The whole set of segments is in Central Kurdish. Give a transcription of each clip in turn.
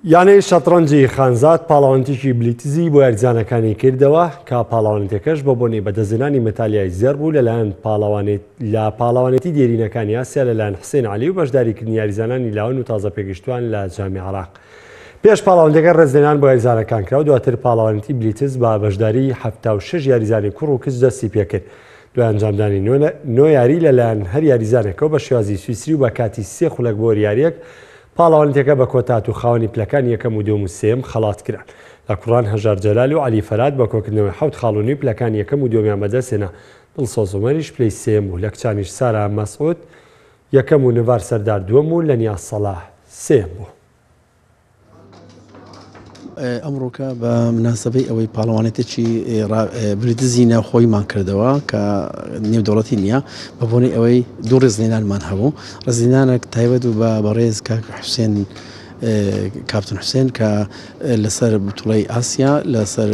یانەی شەتڕەنجی خانزاد پاڵەوانتیکی بلیتزی بۆ یارزانەکانی کردەوە کە پاڵەوانتەکەش بە بۆنەی بەدەزێنانی مەتالیای زێر بوو لەلایەن پاڵەوانێت لە پاڵەوانێتی دێرینەکانی یاسیا لەلایەن حسێن علی و بەشداریکردنی یاریزانانی لاون و تازە پێگەشتوان لە جامی عراق پێش پاڵاوانتەکە ڕێزلێنان بۆ یاریزانەکان کرا و دواتر پاڵەوانتی بلیتز بە بەشداری هەفتا و شش یاریزانی کوڕ و کچ دەستی پێکرد دوای ئەنجامدانی نۆ یاری لەلایەن هەر یاریزانەکەەوە بە شێوازی سویسری و بە کاتی سێ خولەک بۆ یاریەک پاڵەوانێتیەکە بە کۆتا هات و خاوەنی پلەکانی یەکەم و دووەم و سێیەم خەڵات کران. لە کوڕان هەژار جەلال و عەلی فەرات بە کۆکردنەوەی حەوت خاڵ و نیو پلەکانی یەکەم و دووەمیان بەدەست هێنا، دڵسۆز عومەریش پلەی سێیەم بوو، لە کچانیش سارا مەسعود یەکەم و نڤار سەردار دووەم و لەنیاز سەڵاح سێیەم بوو. ئەمڕۆکە بە مناسبەی ئەوەی پاڵەوانێتێکی بریدزی ناوخۆیمان کردەوە کە نێودەوڵەتی نییە بە بۆنی ئەوەی دوو ڕێزلێنانمان هەبوو ڕزینانێک تایبەت و بە بەڕێز کاک حوسێن کاپتن حوسێن کە لەسەر بتوڵی ئاسیا لەسەر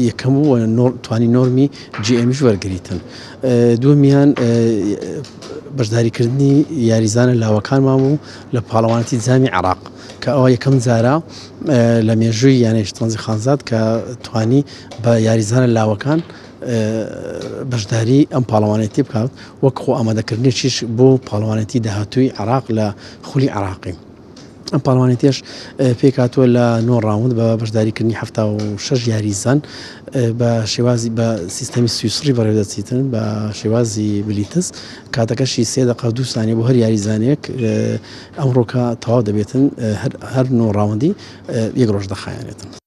یەکەم و توانی نۆرمی جیئمیش وەرگتن دومیان بەشداریکردنی یاریزانە لاوەکانمان بوو لە پاڵەوانتی زامی عراق کە ئەوە یەکەم جارە لە مێژووی یانەی شتڵەنجی خانزاد کە توانی بە یاریزانە لاوەکان بەشداری ئەم پاڵەوانێتی بکات وەک خۆ ئامادەکردنیشیش بۆ پاڵەوانێتی داهاتووی عراق لە خولی عراقی. ئەم پاڵوانێتیش پێکاتوە لە نۆ ڕاوند بە بەشداریکردنی ه شش یاریزان بە شێوازی بە سیستەمی سویسڕی بەڕێدەچیتن بە شێوازی بلیتس کاتەکەشی سێ دقە دووسانی بۆ هەر یاریزانێک ئەمڕۆکە تەواو دەبێتن هەر نۆ ڕاوەندی یەک ڕۆژ دەخایەنێتن.